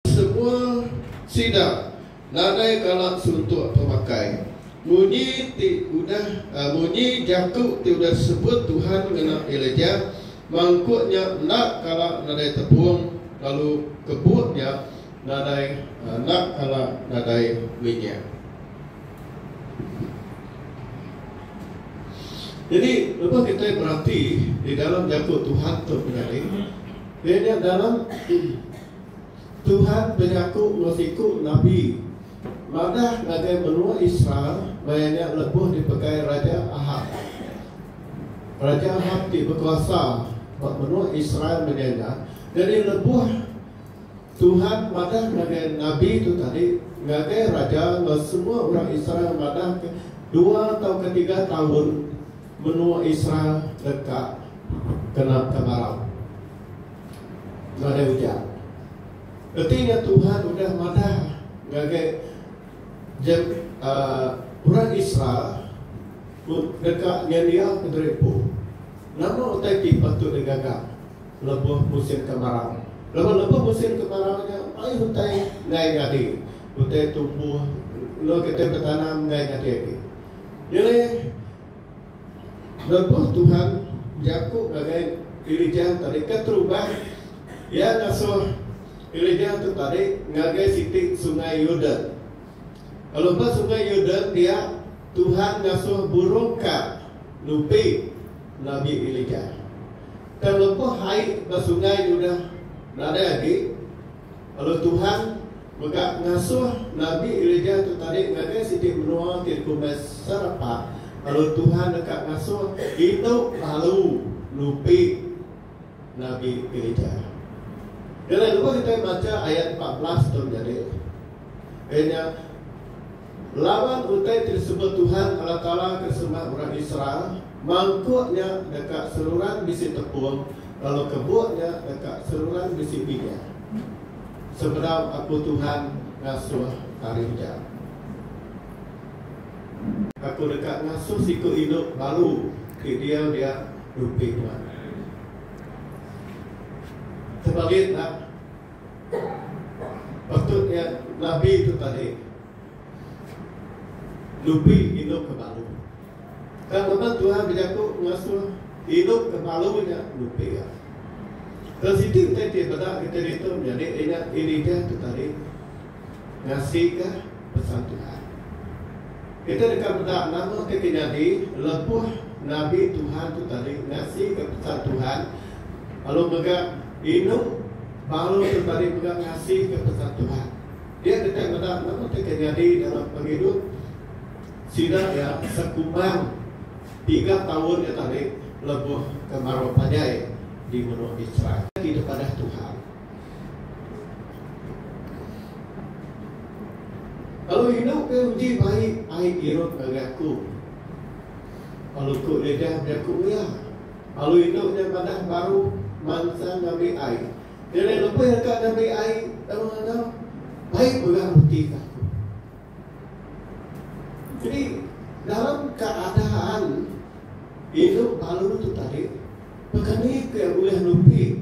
Semua sida nadai kala suntuk pemakai munyi ti udah munyi jaku ti udah sebut Tuhan ngena Elijah, mangkuk nya enda kala nadai tepung lalu kebuk nya nadai enda kala nadai minyak. Jadi lebuh kitai berati di dalam jaku Tuhan tu menyadi, iya nya dalam. Tuhan benyaku enggau siku nabi madah ngagai menua Israel maya nya lebuh dipegai Raja Ahap. Raja Ahap ti bekuasa ba menua Israel menyai nya, nyadi lebuh Tuhan madah ngagai nabi tu tadi ngagai raja enggau semua orang Israel madah ke dua tauka tiga taun menua Israel deka kena kemarau. Nadai ujar. Reti nya Tuhan udah madah ngagai Jam uh, orang Israel deka nyendiaka diri empu. Nama utai ti patut digaga lebuh musim kemarau? Laban lebuh musim kemarau nya mayuh utai enggai nyadi. Utai tumbuh enggau kitai betanam enggai nyadi agi. Nyelih Lebuh Tuhan jaku ngagai gerija tarekat Terubah, Iya ngasuh gerija tu tadi ngagai siti Sungai Yordan. Lalu ba Sungai Yordan dia, Tuhan ngasuh burung ka nupi Nabi Elijah. Tang lebuh ai ba sungai tu dah nadai agi, Lalu Tuhan mega ngasuh Nabi Elijah tu tadi ngagai siti menua ti dikumbai Sarepah, lalu Tuhan deka ngasuh indu lalu nupi Nabi Elijah. Kena dulu kitai macha ayat empat belas tu nyadi. Iya nya. Laban utai ti disebut Tuhan Allah Taala ke sembah orang Israel, mangkuk nya deka seruran bisi tepung, lalu kebuk nya deka seruran bisi bidang, sebedau Aku Tuhan ngasuh ari nya. Aku deka ngasuh siku indu baru ti diau dia nupi nuan. Tebalit enda? Patut nya nabi tu tadi nupi inup ke balu. Tang lebuh Tuhan bejaku ngasuh inup ke balu nya nupi iya. Tang siti utai ti beda kita ditu menyadi inya Elijah tu tadi. ngasika pesan Tuhan. Kitai deka meda nama ti kenyadi lebuh nabi Tuhan tu tadi ngasika pesan Tuhan lalu mega inu baru tu tadi mega ngasika pesan Tuhan. Dia kitai meda nama ti kenyadi dalam pengidup sida iya sekumang tiga taun nya tadi lebuh kemarau panjai di menua Mitsraim. Ti dipadah Tuhan, Lalu indu ke uji bai ai irut ngagai aku. Lalu ku Lidah bejaku iya. Lalu indu nya madah baru mansa ngambi ai. Nyadi lebih deka ngambi ai tang ngaga bai pegah reti ke aku. Jadi dalam keadaan indu balu tu tadi, pekani ke ulih nupi.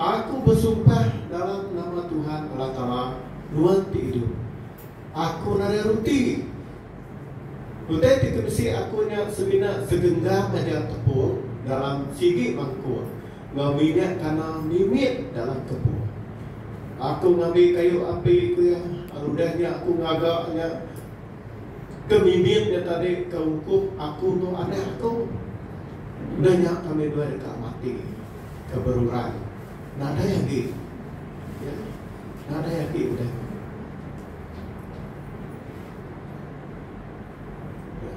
Aku besumpah dalam nama Tuhan Allah Taala, Nuan ti idup, aku nadai ruti. Utai ti kebisi aku nya semina segenggam aja tepung dalam sigi mangkuk enggau minyak kana mimit dalam kepung. Aku ngambi kayu api, ku iya, lalu udah nya aku ngaga nya. Ke bibit nya tadi ke ungkup aku tu anak aku. Enda nya kami dua deka mati ke berurai. Nadai agi. Ya. Nadai agi udah nya. Ya.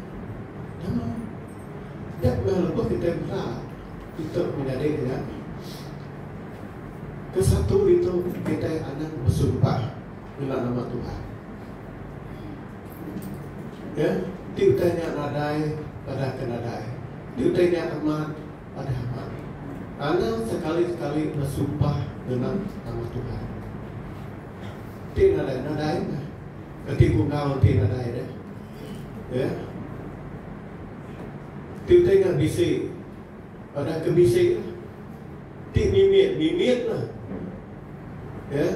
Nama? Nya meh lebuh kitai meda kita menyadi dengan ke satu ditu kitai anang besumpah. nyulah nama Tuhan. Ya, ti utai nya nadai padah ke nadai. Ti utai nya amat padah amat. Anang sekali-sekali besumpah ngenang nama Tuhan. Ti nadai nadai mah. Kati kungau ti nadai deh. Ya. Ti utai nya bisi. Padah ke bisi. Ya. Ti mimit, mimit lah. Ya.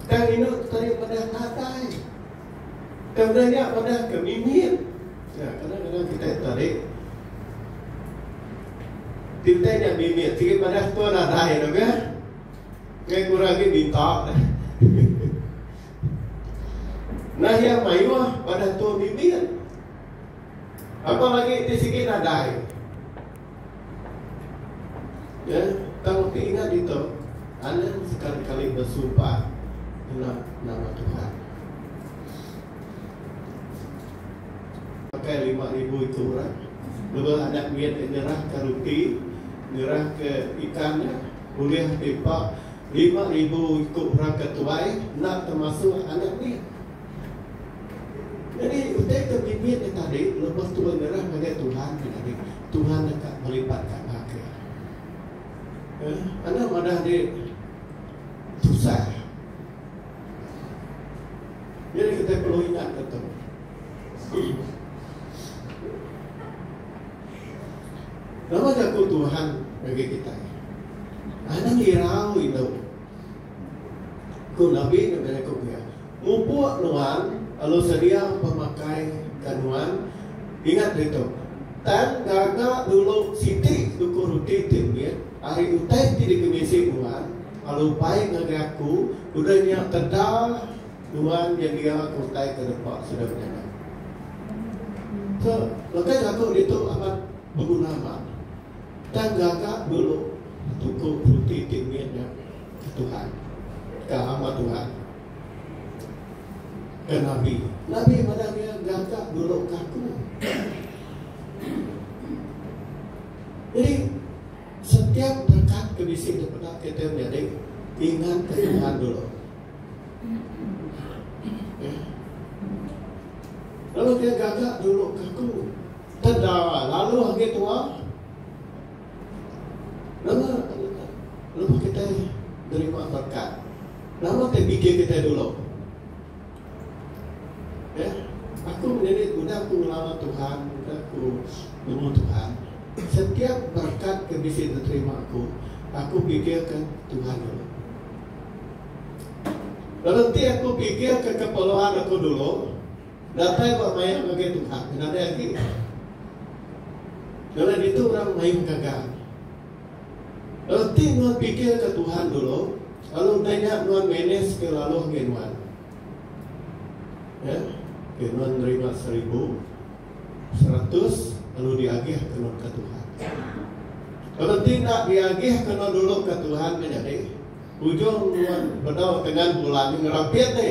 Tang inu tadi madah tadai. Tang udah nya madah ke mimit. Ya, kadang-kadang kita tadi kita nya mimit sikit madah tu tadai tu ke. Ngai kurang lagi minta. Nah yang mayuh pada tu mimit. Apa lagi ti sikit nadai. Ye tau ti nya ditu Allen sekali kali besumpah ngena nama Tuhan. Pakai lima ribu itu orang lebuh anak mit nya nyerahka reti, nyerahka ikan nya ulih nipa lima ribu iku orang ke tuai enda termasuk anak mit. Nyadi, utai ke bibit nya tadi lebuh tuan nyerah ngagai Tuhan nya tadi, Tuhan deka melipat ganda ke. Eh, anak madah andi tusah. Nyadi kitai perlu ingat ke tu. Nama jaku Tuhan ngagai kitai? Anang irau indu. Ku Nabi ngagai aku pia. Ngupuk nuan lalu sedia pemakai ke nuan. Ingat ditu, Tan gaga dulu siti duku ruti ti mit ari utai ti digemisi nuan lalu bai ngagai aku, udah nya teda nuan nyendia ke utai ke depa sida menyadi. Ke lekai jaku ditu amat beguna mat. Tan gaga dulu duku ruti ti mit nya. Ke Tuhan. Ke hamba Tuhan. Ke Nabi. Nabi madah dia gaga dulu kaku. Jadi, setiap berkat ke bisi daripada kita menjadi ingat ke Tuhan dulu. Ya. Lalu dia gaga dulu kaku. Tendara. Lalu hanya tuan. Nama lebuh kitai nerima berkat? Nama utai bidai kitai dulu? Ya, aku ngelilik udah aku ngelawa Tuhan, udah aku nemu Tuhan, setiap berkat ke bisi diterima aku, aku pikirka Tuhan dulu. Lalu ti aku pikirka keperluan aku dulu, Datai ba maya ngagai Tuhan ke nadai agi. Kala ditu orang main gaga. Reti nuan pikirka Tuhan dulu, lalu utai nya nuan manageka lalu enggai nuan. Ya. Okay, nuan nerima seribu, seratus, lalu diagih ke nuan ke Tuhan. Kalau tidak diagih ke nuan dulu ke Tuhan menyadi, ujung nuan bedau dengan bulan ngerapit ni.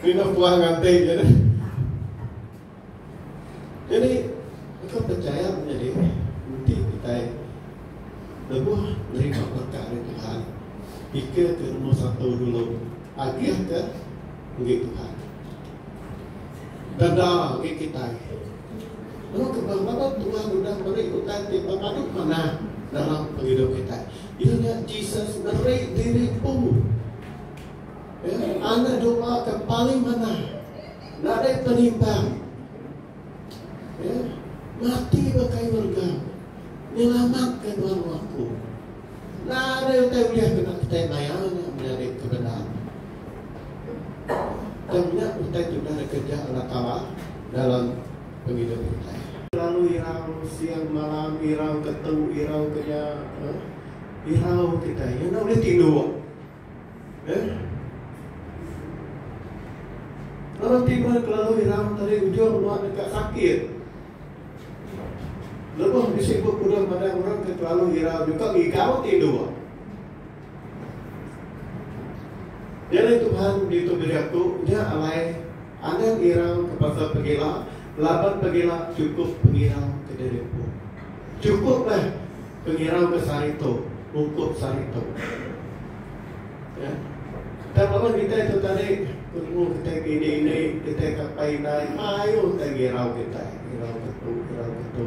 Kena puas nganti je ni. Jadi, engkau percaya punya diri. Nanti kita lebuh nerima berkat dari Tuhan. Pikir ke nombor satu dulu. Agih ke pergi Tuhan. Dada pergi kita. Lalu kebangkala Tuhan sudah beri utai di pemadu mana dalam hidup kita. Ia Jesus beri diri pun Enti anak doa ke paling manah nadai penimbang ya, mati bekai urga nyelamatka nuan aku. Nadai utai ulih kena petai maya nya menyadi kebenar. Tang nya utai tu dah dikeja Allah Taala dalam pengidup kitai. Lalu irau siang malam irau ketu irau keja eh, irau kitai enda ulih tinduk. Eh. Lalu tiba kelalu hiram tadi ujung buat dekat sakit. Lebuh bisi buat kuda pada orang ke kelalu hiram juga gigau tidur. Jadi Tuhan di tu bejaku, dia alai Anang ngirau ke pasal pegila laban pegila chukup pengirau ke diri empu. Chukup meh pengirau ke sehari tu ungkup sehari tu. Ya. Tang laban kitai tu tadi penemu kitai ke indi-indi, kitai ke apai indai, mayuh utai ngirau kitai. Ngirau ke tu, ngirau ke tu.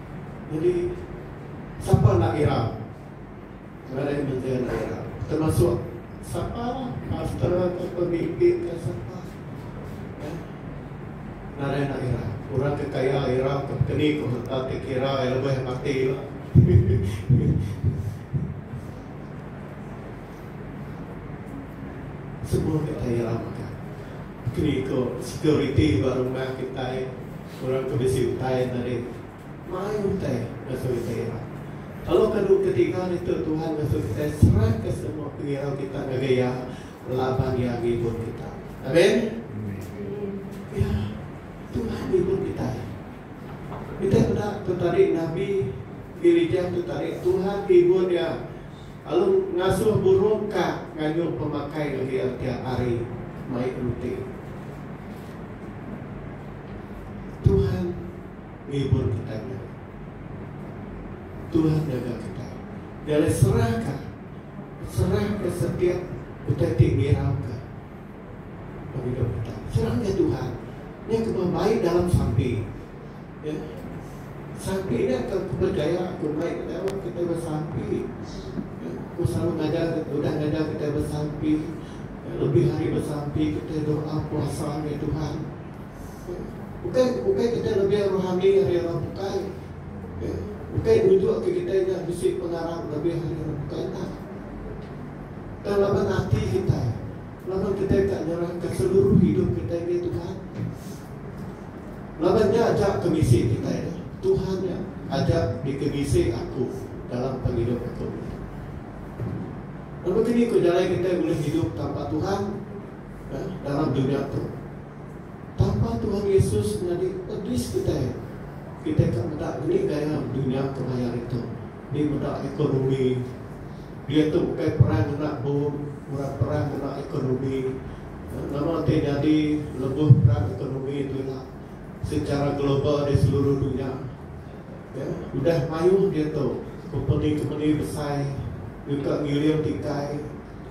Jadi sapa enda gira ngagai menteri enda gira termasuk sapa lah pastor ka pemimpin ka sapa ya nadai enda gira orang ke kaya gira ke pekeni ke utak ti kira iya lebih mati lah semua kitai gira mega pekeni ko security ba rumah kitai. Seorang ke bisi utai enda deh mai utai ngasu kita ira. Tolong kadu ke tiga ditu Tuhan ngasu kitai serah ke semua pengirau kita ngagai Iya laban Iya ngibun kita. Amen. Ya, Tuhan ngibun kitai. Kitai meda tu tadi nabi Ilijah tu tadi Tuhan ngibun iya. lalu ngasuh burung ka ngayuh pemakai ngelir tiap hari mai reti. Tuhan ngibur kitai nya. Tuhan ngaga kitai. Nya alai serah ka. Serah ka setiap utai ti ngirau ka pengidup kitai. Serah ka Tuhan. Nya kemah bai dalam sampi. Iya. Sampi nya tang kepercaya aku mai ngena orang kitai besampi. Iya. Aku selalu ngajar kitai udah ngajar kitai besampi. Iya. Lebih hari besampi kitai doa puasa ngagai Tuhan. Iya. Ukai ukai kitai lebih rohani ari orang bukai. Iya. Ukai nunjuk ke kitai nya bisi pengarap lebih ari orang bukai enda. Tang laban ati kitai. Laban kitai ka nyerahka seluruh hidup kitai ngagai Tuhan. Laban nya aja ke bisi kitai nya. Tuhan nya aja dikebisi aku dalam pengidup aku nya. Lalu kini ku jalai kitai ulih hidup tanpa Tuhan eh, dalam dunia tu. Tanpa Tuhan Yesus nyadi pedis kitai. Kitai ka meda ngeri gaya dunia kemaya hari tu. Ni meda ekonomi. Dia tu bukai perang ngena bom, orang perang ngena ekonomi. Nama ti nyadi lebuh peran ekonomi telinga secara global di seluruh dunya? Udah mayuh diatu kompeni-kompeni besai nyuka ngiling tikai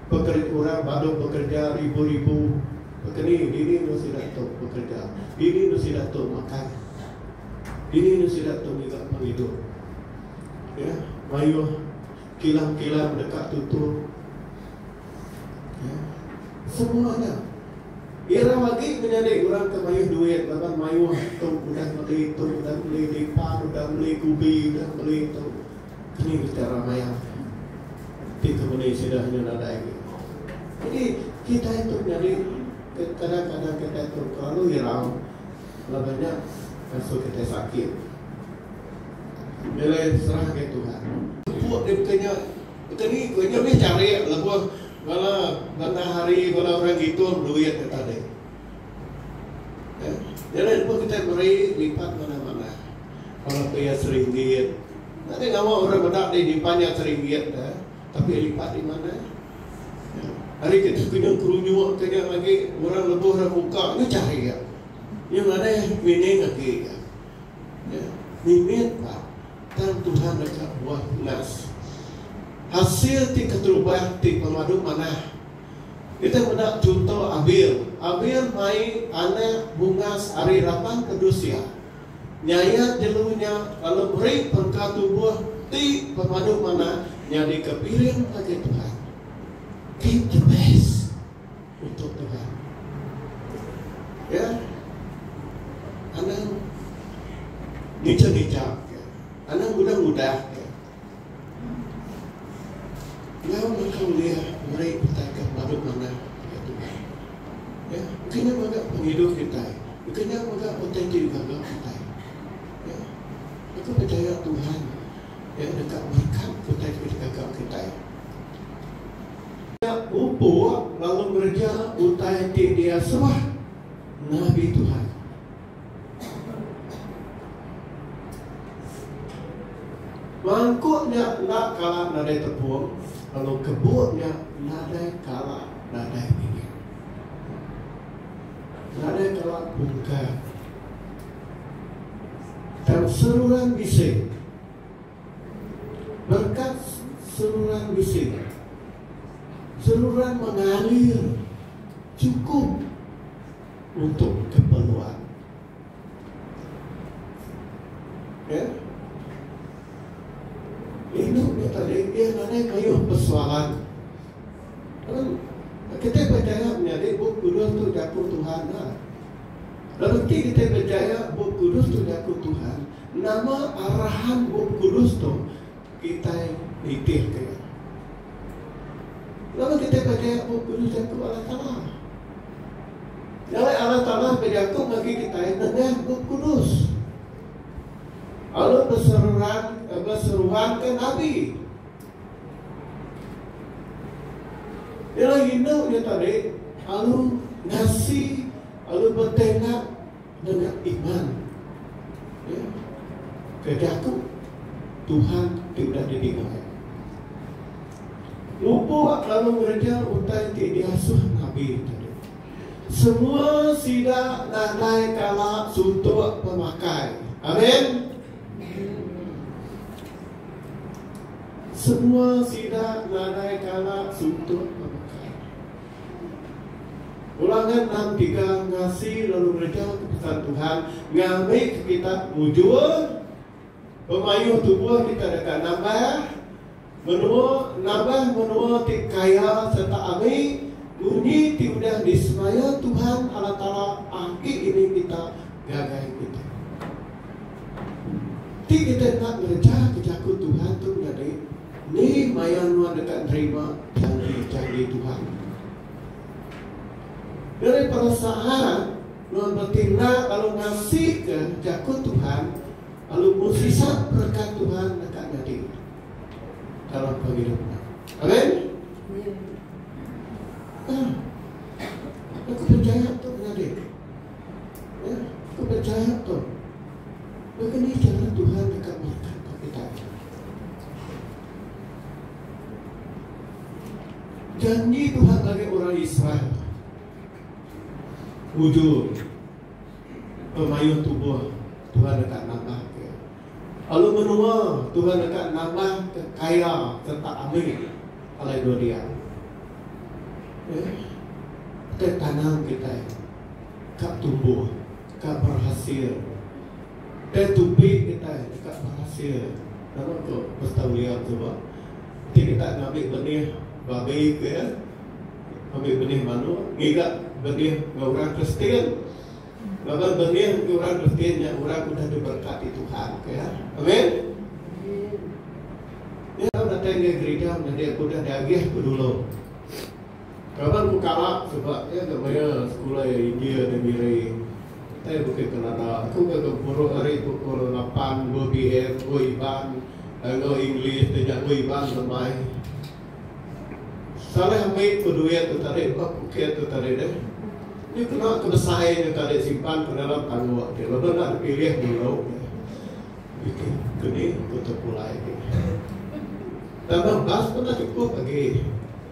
pekerja orang badu bekerja ribu-ribu kekeni. Dini enu sida tu bekerja? Dini enu sida tu makai? Dini enu sida tu ngiga pengidup? Mayuh kilang-kilang deka tutup. Semua nya. Ira agi menyadi orang ke mayuh duit laban mayuh tu udah meli tu udah meli lipan udah meli kubi udah meli tu. Keni bisi ira mayar. Ti ke meni sida hanya nadai agi. Jadi kitai tu nyadi kadang-kadang kitai tu terlalu irau laban nya ngasu kitai sakit. Milih serahka Tuhan. Pupuk dipeka nya. Petani ku nya ulih nyarik lebuh bala bandar hari, bala orang ngitung duit ke tadi. Jadi lebuh kitai meri lipat manah-manah bala pia seringgit. Enda deh ngawa orang meda dih nyimpan nya seringgit dah tapi lipat nya manah. Ari kitai kena kerunyuk ke nya agi orang lebuh orang muka nya nyarik. Nya ngadah mining agi nya. Mimit pak. Tang Tuhan deka buah tunas. Hasil ti keterubah ti pemadu manah. Kitai meda chunto Abel. Abel mai anak bungas ari raban pedus iya. Nyayat jelu nya lalu meri perengka tubuh ti pemadu manah nyadika piring ngagai Tuhan. Keep the best. Utuh Tuhan. Ya. Anang ngeja-ngeja ke. Anang ngudah-ngudah ke. Nyau naka ulih meri kitai ke pelalu manah ngagai Tuhan. Ya. Engka nya mega pengidup kitai. Engka nya mega utai ti digaga kitai. Ya. Aku pechaya Tuhan. Iya deka berikat utai ke dikaga kitai. Iya mupuk lalu ngereja utai ti diasuh nabi Tuhan. Mangkuk nya enda kala nadai tepung, lalu kebuk nya nadai kala nadai minyak. Nadai kala bungkar. Berkat seruran bisi Berkat seruran bisi Seruran mengalir cukup untuk keperluan Ya yeah. Hidup ni tadi dia nanti kayuh persoalan Kita percaya menjadi buku dua tu jaku Tuhan lah Lalu enti kitai bejaya Bup Kudus tu nyaku Tuhan, nama arahan Bup Kudus tu kitai nitihka iya? Lalu kitai bejaya Bup Kudus jaku Allah Taala. Jalai Allah Taala bejaku bagi kitai nengah Bup Kudus. Lalu berseruan, eh, berseruan ke Nabi. Ialah hina dia tadi, lalu ngasih Lalu betai enda ngena iman. Ya. Ke jaku Tuhan ti udah didinga iya. Lupuk lalu ngereja utai ti diasuh nabi tadi. Semua sida nadai kala suntuk pemakai. Amen. Semua sida nadai kala suntuk pemakai. Orang nya endang tiga ngasi lalu ngejauka pesan Tuhan ngambika kita mujur, bemayuh tubuh kita deka nambah menua, nambah menua ti kaya sereta ami munyi ti udah disemaya Tuhan Allah Taala agi ini kita ngagai kita. Ti kita enda ngerejaka jaku Tuhan tu nyadi. Ni maya nuan deka nerima janji-janji Tuhan? Diri perasaan nuan betindak lalu ngasika jaku Tuhan lalu bersisa berekat Tuhan deka nyadi dalam pengidup nuan. Amen. Ah, aku percaya tu nyadi. Aku enda jahat tau. Lalu nih cara Tuhan deka berkat ka kita agi. Janji Tuhan ngagai orang Israel mujur pemayuh tubuh Tuhan deka nambah ke. Lalu menua Tuhan deka nambah ke kaya serta ambil alai dua dia. Eh, kita tanam kita. ka tumbuh ka berhasil deh tupi kitai deka berhasil laban ko Pastor William tu bah enti kita ngambi benih babi ke ngambi benih manuk ngiga benih enggau orang Kristian laban benih enggau orang Kristian nya orang udah diberkati Tuhan ke amen Iya datai ngai gerija menyadi aku udah diagih ku dulu. Kaban ku kalak sebab iya enda mayar sekula iya India nya miri. Utai bukit Kanada, aku ga gempuru ari pukul lapan dua PM enggu Iban enggau English ti nya enggu Iban tu mbai. Saleh ambi ku duit tu tadi ba puket tu tadi deh. Nya kena ke besai nya tadi simpan ke dalam tangguk ti laban enda dipilih dulu. Bikih keni ku tepulai. Tambah bas pun dah cukup agi.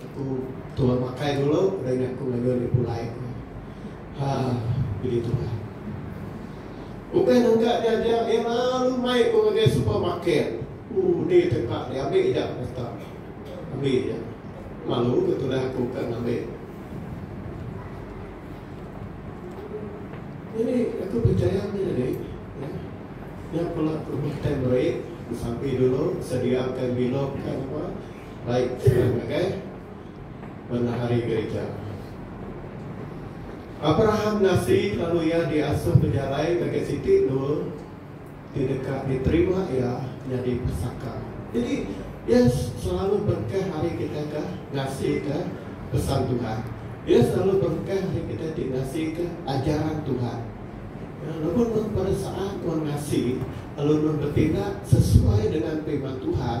Aku tuah makai dulu udah nya aku ngaga nya pulai ku iya. Ha pidi tuai. Udah ngaga nya aja iya lalu mai ku ngagai supermarket. Uh ni tempat dia ambi aja kata iya. Ambi aja. Malu ke tudah aku ke ngambi. Jadi aku percaya ni jadi ya. Nya pula aku makan meri, sampi dulu sediakan minum kan apa. baik kena ngagai benehari gerija. Abraham ngasi lalu iya diasuh bejalai ngagai siti endul ti deka diterima iya nyadi pesaka. Jadi, iya selalu berkah ari kitai ke ngasika pesan Tuhan. Iya selalu berkah ari kitai ti ngasika ajaran Tuhan. Lebuh nuan beresaa nuan ngasi lalu nuan betindak sesuai dengan Firman Tuhan,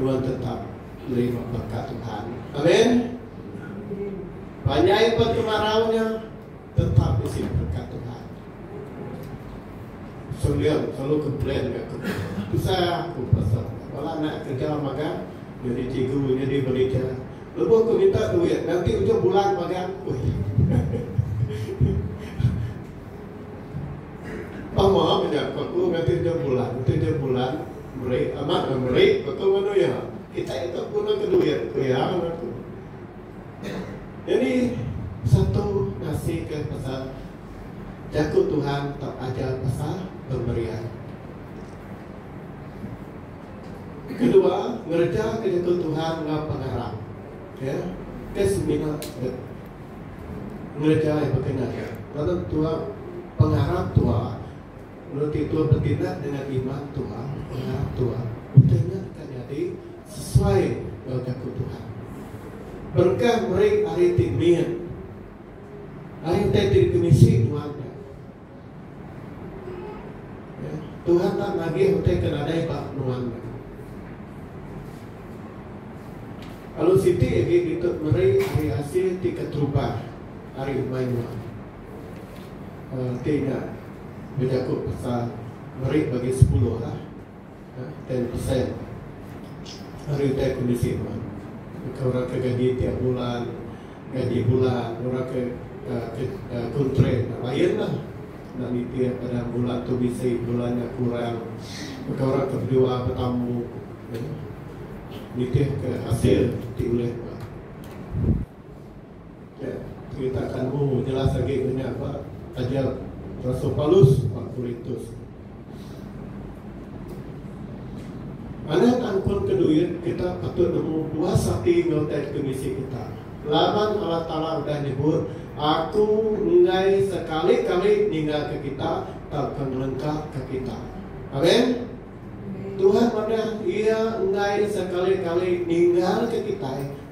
Nuan tetap nerima berkat Tuhan. Amin. Panjai pun kemarau nya tetap bisi berkat Tuhan. Sembilan selalu ke plan ke aku. Pasal aku pasal. Kalau nak kerja makan, jadi cikgu, jadi berita. Lepas aku minta duit, nanti ujung bulan makan. Pemaham je aku, nanti ujung bulan, nanti ujung bulan. Meri amat meh meri betul nganu iya. Kitai enda tau gunaka duit ku iya nganu tu. Nyadi satu ngasika pasal jaku Tuhan tau ajar pasal pemberian. Kedua, ngerejaka jaku Tuhan enggau pengarap. Ya. Ke semina dep ngereja iya bekena nya laban tuah pengarap tuah. Mula ti Tuan betindak dengan iman Tuan, pengarap Tuan, utai nya deka nyadi sesuai enggau jaku Tuhan. Berengkah meri hari ti mit, hari utai ti dikemisi nuan nya. Tuhan enda nagih utai ke nadai ba nuan nya. Alu siti agi ditu meri hari asil ti keterubah ari umai nuan. Ti nya bejaku pasal meri bagi sepuluh lah ten percent ari utai kondisi nuan baka orang ke gaji tiap bulan gaji bulan orang ke kontrak lain lah enda nitih pada bulan tu bisi bulan nya kurang baka orang ke bedua betamu nitih ke hasil ti ulih nuan. Ke cerita kamu jelas agi ngena ba taja rasul Paulus ba Korintus. Alah tang pun ke duit kita patut nemu puas ati enggau teks ke bisi kita. Laban Allah Taala udah nyebut, Aku enggai sekali-kali ninggalka kita tauka ngelengkapka kita. Amen. Tuhan madah Iya enggai sekali-kali ninggalka kitai.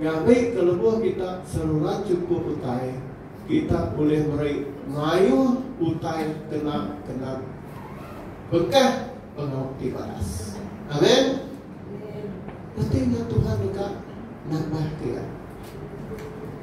Ngagai ke lebuh kita seruran chukup utai, kita ulih meri mayuh utai kena kenang bengkah pengawa ti baras. Amen. Peti nya Tuhan deka nambah kitai.